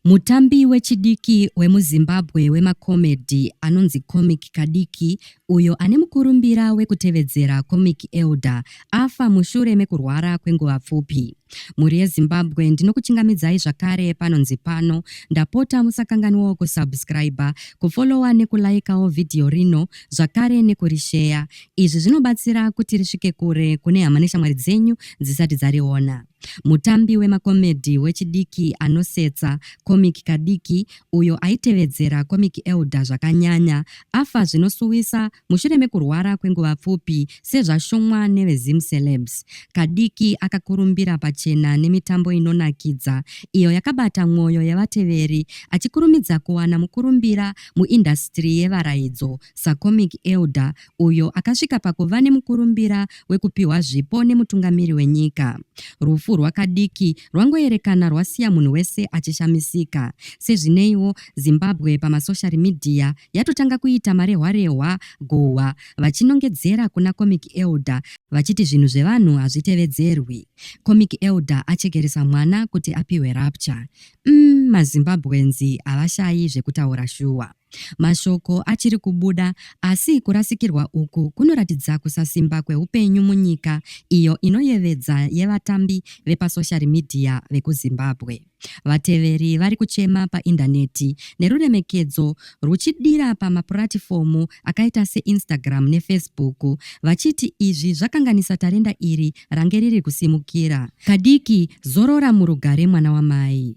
Mutambi wechidiki wemuZimbabwe wemakomedhi anonzi Comic Kadiki uyo ane mukurumbira wekutevedzera Comic Elder afa mushure mekurwara kwenguva pfupi. Mhuri yeZimbabwe ndinokuchingamidzai zvakare panonzi pano ndapota musakanganwawo kusubscriber, kufollowa nekulaikawo vhidhiyo rino zvakare nekurisheya. Izvi zvinobatsira kuti risvike kure kune hama neshamwari dzenyu dzisati dzariona. Mutambi wemakomedhi wechidiki anosetsa, comic kadiki, uyo aitevedzera comic elder zvakanyanya, afa zvinosuwisa mushure mekurwara kwenguva pfupi sezvashumwa neveZimCelebs. Kadiki akakurumbira pachena nemitambo inonakidza iyo yakabata mwoyo yevateveri achikurumidza kuwana mukurumbira muindasitiri yevaraidzo sacomic elder uyo akasvika pakuva nemukurumbira wekupiwa zvipo nemutungamiri wenyika. Rufu rwakadiki rwangoyerekana rwasiya munhu wese achishamisika. Sezvineiwo, Zimbabwe pamasoshari midhiya yatotanga kuita marehwarehwa guhwa vachinongedzera kuna Comic Elder vachiti zvinhu zvevanhu hazvitevedzerwi. Comic Elder achekeresa mwana kuti apiwe rapture. Umm, maZimbabwenzi havashayi zvekutaura shuwa. Mashoko achiri kubuda, asi kurasikirwa uku kunoratidza kusasimba kweupenyu munyika iyo inoyevedza yevatambi vepasoshari midhiya vekuZimbabwe. Vateveri vari kuchema paindaneti neruremekedzo rwuchidira pamapuratifomu akaita seInstagram neFacebook vachiti izvi zvakanganisa tarenda iri range riri kusimukira. Kadiki, zorora murugare mwana wamai.